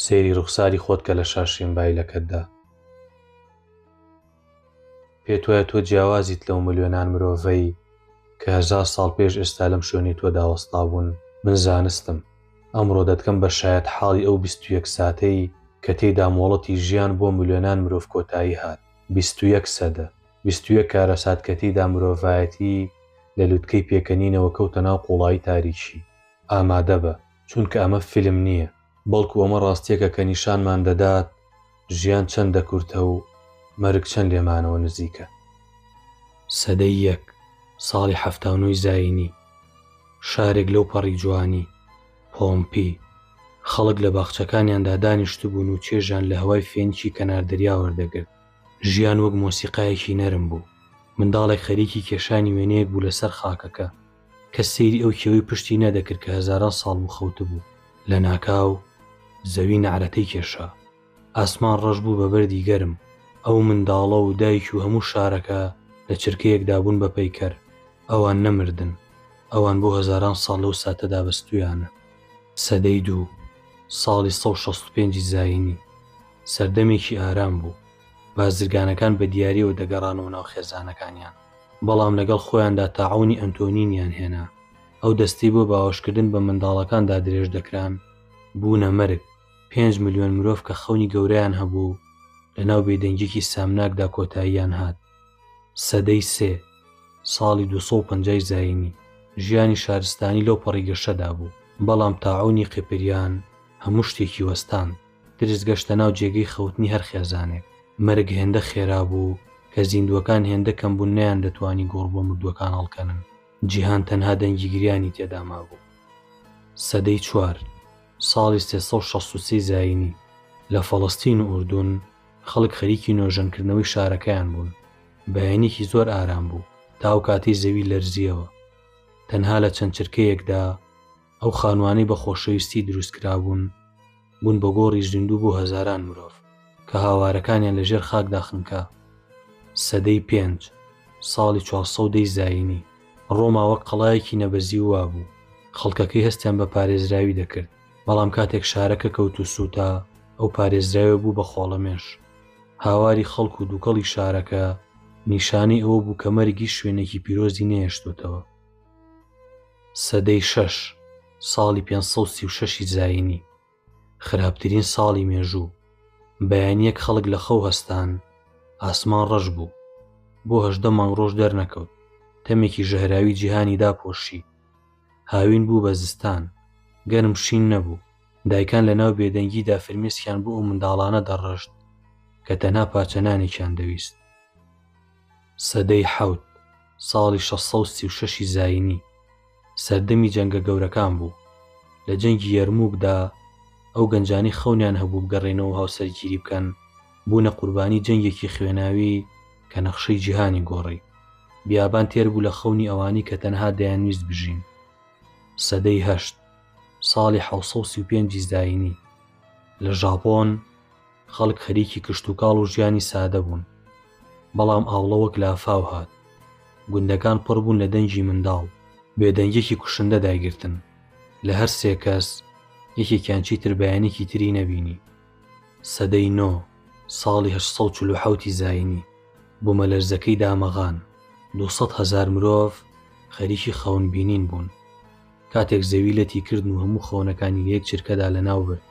سەیری ڕوخساری خۆت کە لە شاشەی مبایلەکەتدا. پێتوایە تۆ جیاوازیت لەو ملیۆنان مرۆڤەی کە هەزار ساڵ پێش ئێستا لەم شوێنەی تۆدا وەستابوون؟ من زانستم. ئەمڕۆ دەتکەم بە شایەتحاڵی ئەو بیست و یەک ساتەی کە تێیدا مۆڵەتی ژیان بۆ ملیۆنان مرۆڤ کۆتایی هات. بیست و یەک سەدە. بیست و یەک کارەسات کە تێیدا مرۆڤایەتی لە لوتکەی پێکەنینەوە کەوتە ناو قوڵایی تاریکی. ئامادەبە. چونکە ئەمە فیلم نییە، بەڵکو ئەمە ڕاستییەکە کە نیشانمان دەدات ژیان چەندە کورتە و مەرگ چەند لێمانەوە نزیکە. سەدەی یەک، ساڵی حەفتا و نۆی زایینی، شارێک لەو پەڕی جوانی، پۆمپی، خەڵک لە باخچەکانیاندا دانیشتبوون و چێژیان لە هەوای فێنکی کەنار دەریا وەردەگرت. ژیان وەک مۆسیقایەکی نەرم بوو، منداڵێک خەریکی کێشانی وێنەیەک بوو لەسەر خاکەکە، کەس سەیری ئەو کێوەی پشتی نەدەکرد کە هەزاران ساڵ بوو خەوتبوو. لە ناکاو زەوی نەعرەتەی کێشا. ئاسمان ڕەش بوو بە بەردی گەرم. ئەو منداڵە و دایک و هەموو شارەکە لە چرکەیەکدا بوون بە پەیکەر. ئەوان نەمردن. ئەوان بۆ هەزاران ساڵ لەو ساتەدا بەستوویانە. سەدەی دوو، ساڵی سەد و شەست و پێنج زایینی، سەردەمێکی ئارام بوو. بازرگانەکان بە دیارییەوە دەگەڕانەوە ناو خێزانەکانیان. بەڵام لەگەڵ خۆیاندا تاعونی ئەنتۆنینیان هێنا، ئەو دەستەی بۆ باوەشکردن بە منداڵەکان دادرێژ دەکران، بوونە مەرگ، پێنج ملیۆن مرۆڤ کە خەونی گەورەیان هەبوو و لەناو بێدەنگییەکی سامناکدا کۆتاییان هات. سەدەی سێ، ساڵی دوو سەد و پەنجا ی زایینی، ژیانی شارستانی لەوپەڕی گەشەدا بوو، بەڵام تاعونی قیپریان هەموو شتێکی وەستاند. ترس گەشتە ناو جێگەی خەوتنی هەر خێزانێک. مەرگ هێندە خێرا بوو کە زیندووەکان هێندە کەم بوون نەیاندەتوانی گۆڕ بۆ مردووەکان هەڵکەنن. جیهان تەنها دەنگی گریانی تێدا مابوو. سەدەی چوار، ساڵی سێ سەد و شەست و سێ زایینی، لە فەڵەستین و ئوردون، خەڵک خەریکی نۆژەنکردنەوەی شارەکەیان بوون. بەیانیکی زۆر ئارام بوو تا ئەو کاتەی زەوی لەرزییەوە. تەنها لە چەند چرکەیەکدا. ئەو خانوانەی بە خۆشەویستی دروست کرابوون بوون بە گۆڕی زیندوو بۆ هەزاران مرۆڤ کە هاوارەکانیان لە ژێر خاکدا خنکا سەدەی پێنج ساڵی چوارسەدەی زایینی ڕۆما وەک قەڵایەکی نەبەزی وا بوو خەڵکەکەی هەستیان بە پارێزراوی دەکرد بەڵام کاتێک شارەکە کەوت و سووتا ئەو پارێزراوە بوو بە خۆڵەمێش هاواری خەڵک و دووکەڵی شارەکە نیشانەی ئەوە بوو کە مەرگیش شوێنێکی پیرۆزی نەهێشتوتەوە سەدەی شەش، ساڵی پێنج سەد و سی و شەش ی زایینی، خراپترین ساڵی مێژوو، بەیانییەک خەڵک لە خەو هەستان، ئاسمان ڕەش بوو، بۆ هەژدە مانگ ڕۆژ دەرنەکەوت، تەمێکی ژەهراوی جیهانی داپۆشی، هاوین بوو بە زستان، گەرم شین نەبوو، دایکان لە ناو بێدەنگیدا فرمێسکیان بۆ ئەو منداڵانە دەڕشت کە تەنها پارچە نانێکیان دەویست. سەدەی حەوت، ساڵی شەش سەد و سی و شەش ی زایینی، سەردەمی جەنگە گەورەکان بوو. لە جەنگی یەرمووکدا، ئەو گەنجانەی خەونیان هەبوو بگەڕێنەوە و هاوسەرگیری بکەن، بوونە قوربانیی جەنگێکی خوێناوی کە نەخشەی جیهانی گۆڕی. بیابان تێر بوو لە خەونی ئەوانەی کە تەنها دەیانویست بژین. سەدەی هەشت، ساڵی حەوت سەد و سی و پێنج ی زایینی، لە ژاپۆن، خەڵک خەریکی کشتوکاڵ و ژیانی سادە بوون، بەڵام ئاوڵە وەک لافاو هات. گوندەکان پڕ بوون لە دەنگی منداڵ. بێدەنگییەکی کوشندە دایگرتن. لە هەر سێ کەس، یەکێکیان چیتر بەیانیکی تری نەبینی. سەدەی نۆ، ساڵی هەشت سەد و چل و حەوت ی زایینی، بوومەلەرزەکەی دامەغان. دوو سەد هەزار مرۆڤ خەریکی خەون بینین بوون. کاتێک زەوی لەتی کردن و هەموو خەونەکانی لە یەک چرکەدا لەناو برد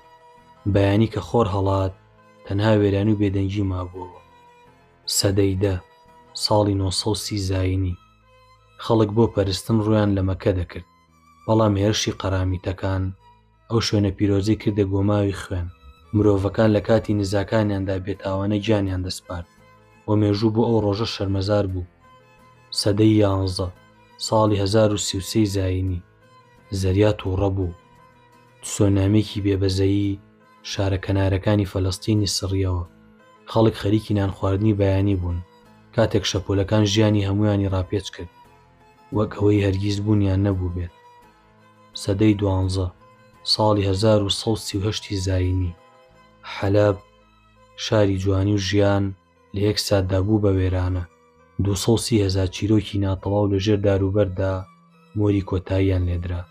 بەیانی کە خۆر هەڵات تەنها وێران و بێدەنگی مابووەوە سەدەی دە ساڵی 930 زینی خەڵک بۆ پەرستن ڕویان لە مەکە دەکرد بەڵام هێرشی قەرامیتەکان ئەو شوێنە پیرۆزەی کردە گۆماوی خوێن، مرۆڤەکان لە کاتی نزاکانیاندا بێتاوانە گیانیان دەسپارد و مێژوو بۆ ئەو ڕۆژە شەرمەزار بوو. سەدەی یانزە، ساڵی هەزار و سی و سێی زایینی، زەریا تووڕە بوو. تسۆنامییەکی بێبەزەیی شارە کەنارەکانی فەلەستینی سڕییەوە. خەڵک خەریکی نانخواردنی بەیانی بوون، کاتێک شەپۆلەکان ژیانی هەموویانی ڕاپێچ کرد، وەک ئەوەی هەرگیز بوونیان نەبووبێت. سەدەی دوانزە، ساڵی هەزار و سەد و سی و هەشت ی زایینی، حەلەب، شاری جوانی و ژیان، لە یەک ساتدا بوو بە وێرانە، دوو سەد و سی هەزار چیرۆکی ناتەواو لە ژێر داروبەرددا مۆری کۆتاییان لێدرا.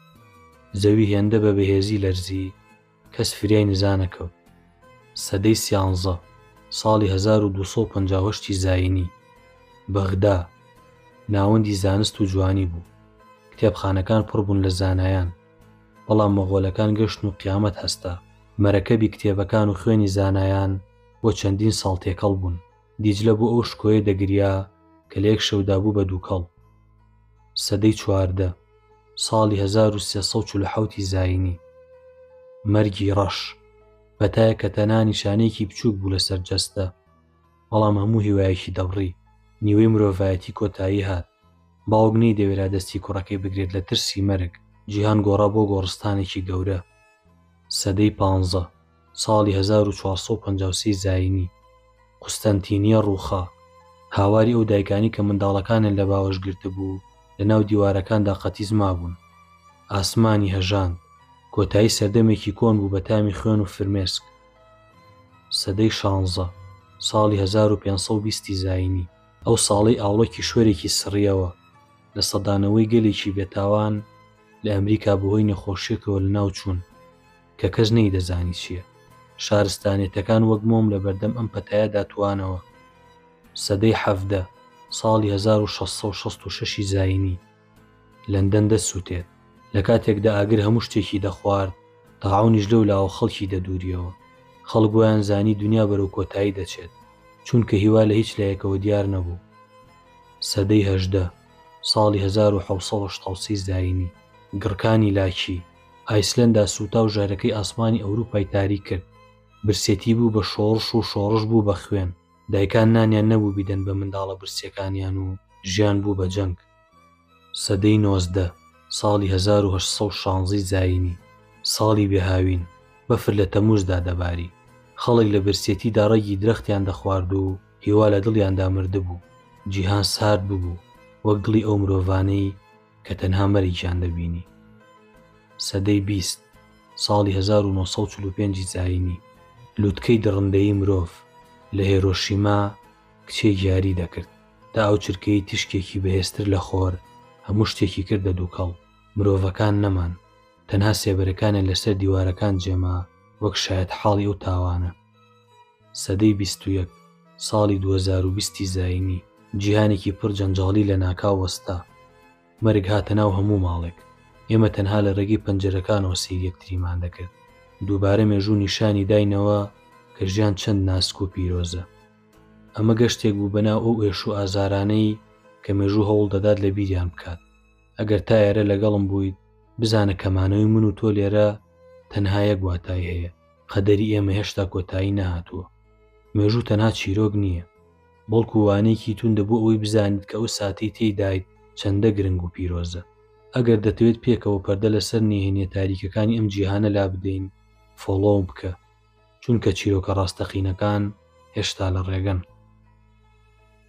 زەوی هێندە بە بەهێزی لەرزی، کەس فریای نزا نەکەوت. سەدەی سیانزە، ساڵی هەزار و دوو سەد و پەنجا و هەشت ی زایینی، بەغدا، ناوەندی زانست و جوانی بوو. کتێبخانەکان پڕ بوون لە زانایان. بەڵام مەغۆلەکان گەشتن و قیامەت هەستا. مەرەکەبی کتێبەکان و خوێنی زانایان بۆ چەندین ساڵ تێکەڵ بوون. دیجلە بۆ ئەو شکۆیە دەگریا کە لە یەک شەودا بوو بە دووکەڵ. سەدەی چواردە، ساڵی هەزار و سێ سەد و چل و حەوت ی زایینی. مەرگی ڕەش، بەتایەک کە تەنها نیشانەیەکی بچووک بوو لەسەر جەستە، بەڵام هەموو هیوایەکی دەبڕی. نیوەی مرۆڤایەتی کۆتایی هات. باوک نەیدەوێرا دەستی کوڕەکەی بگرێت لە ترسی مەرگ. جیهان گۆڕا بۆ گۆڕستانێکی گەورە. سەدەی پانزە. ساڵی هەزار و چوار سەد و پەنجا و سێ زایینی، قوستەنتینییە ڕووخا. هاواری ئەو دایکانەی کە منداڵەکانیان لە باوەش گرتبوو، لە ناو دیوارەکاندا قەتیس مابوون. ئاسمانی هەژاند. کۆتایی سەردەمێکی کۆن بوو بە تامی خوێن و فرمێسک. سەدەی شانزە، ساڵی هەزار و پێنج سەد و بیست ی زایینی. ئەو ساڵەی ئاوڵە کیشوەرێکی سڕییەوە، لە سەدانەوەی گەلێکی بێتاوان لە ئەمریکا بەهۆی نەخۆشییەکەوە لەناوچوون. کە کەس نەیدەزانی چییە. شارستانیەتەکان وەک مۆم لە بەردەم ئەم پەتایەدا توانەوە. سەدەی حەڤدە، ساڵی هەزار و شەش سەد و شەست و شەش ی زایینی، لەندەن دەست سووتێت. لە کاتێکدا ئاگر هەموو شتێکی دەخوارد، تاعونیش لەو لاوە خەڵکی دەدوورییەوە. خەڵک وایان زانی دونیا بەرەو کۆتایی دەچێت، چونکە هیوا لە هیچ لایەکەوە دیار نەبوو. سەدەی هەژدە، ساڵی هەزار و حەوت سەد و شەست و سێ زایینی، گڕکانی لاکی، ئایسلەندا سووتا و ژەهرەکەی ئاسمانی ئەوروپای تاریک کرد، برسێتی بوو بە شۆڕش و شۆڕش بوو بە خوێن، دایکان نانیان نەبوو بیدەن بە منداڵە برسیەکانیان و ژیان بوو بە جەنگ. سەدەی نۆزدە، ساڵی هەزار و هەشت سەد و شانزەی زایینی، ساڵی بێ هاوین، بەفر لە تەمووزدا دەباری، خەڵک لە برسێتیدا ڕەگی درەختیان دەخوارد و هیوا لە دڵیاندا مردبوو، جیهان سارد ببوو وەک دڵی ئەو مرۆڤانەی، کە تەنها مەرگیان دەبینی. سەدەی بیست، ساڵی هەزار و نۆ سەد و چل و پێنج ی زایینی، لوتکەی دڕندەیی مرۆڤ لە هێرۆشیما کچێک یاری دەکرد، تا ئەو چرکەی تیشکێکی بەهێزتر لە خۆر هەموو شتێکی کردە دووکەڵ، مرۆڤەکان نەمان، تەنها سێبەرەکانیان لەسەر دیوارەکان جێما وەک شایەتحاڵی ئەو تاوانە. سەدەی بیست و یەک، ساڵی دوو هەزار و بیست ی زایینی، جیهانێکی پڕ جەنجاڵی لەناکاو وەستا. مەرگ هاتە ناو هەموو ماڵێک. ئێمە تەنها لە رێگەی پەنجەرەکانەوە سەیری یەکتریمان دەکرد. دووبارە مێژوو نیشانی داینەوە کە ژیان چەند ناسک و پیرۆزە. ئەمە گەشتێک بوو بەناو ئەو ئێش و ئازارانەی کە مێژوو هەوڵ دەدات لەبیریان بکات. ئەگەر تا ئێرە لەگەڵم بوویت، بزانە کە مانەوەی من و تۆ لێرە تەنها یەک واتای هەیە. قەدەری ئێمە هێشتا کۆتایی نەهاتووە مێژوو تەنها چیرۆک نییە بەڵکو وانەیەکی توندە بۆ ئەوەی بزانیت کە ئەو ساتەی تێیدایت چەندە گرنگ و پیرۆزە ئەگەر دەتەوێت پێکەوە پەردە لەسەر نهێنیە تاریکەکانی ئەم جیهانە لابدەین فۆڵۆم بکە چونکە چیرۆکە ڕاستەقینەکان هێشتا لە ڕێگەن.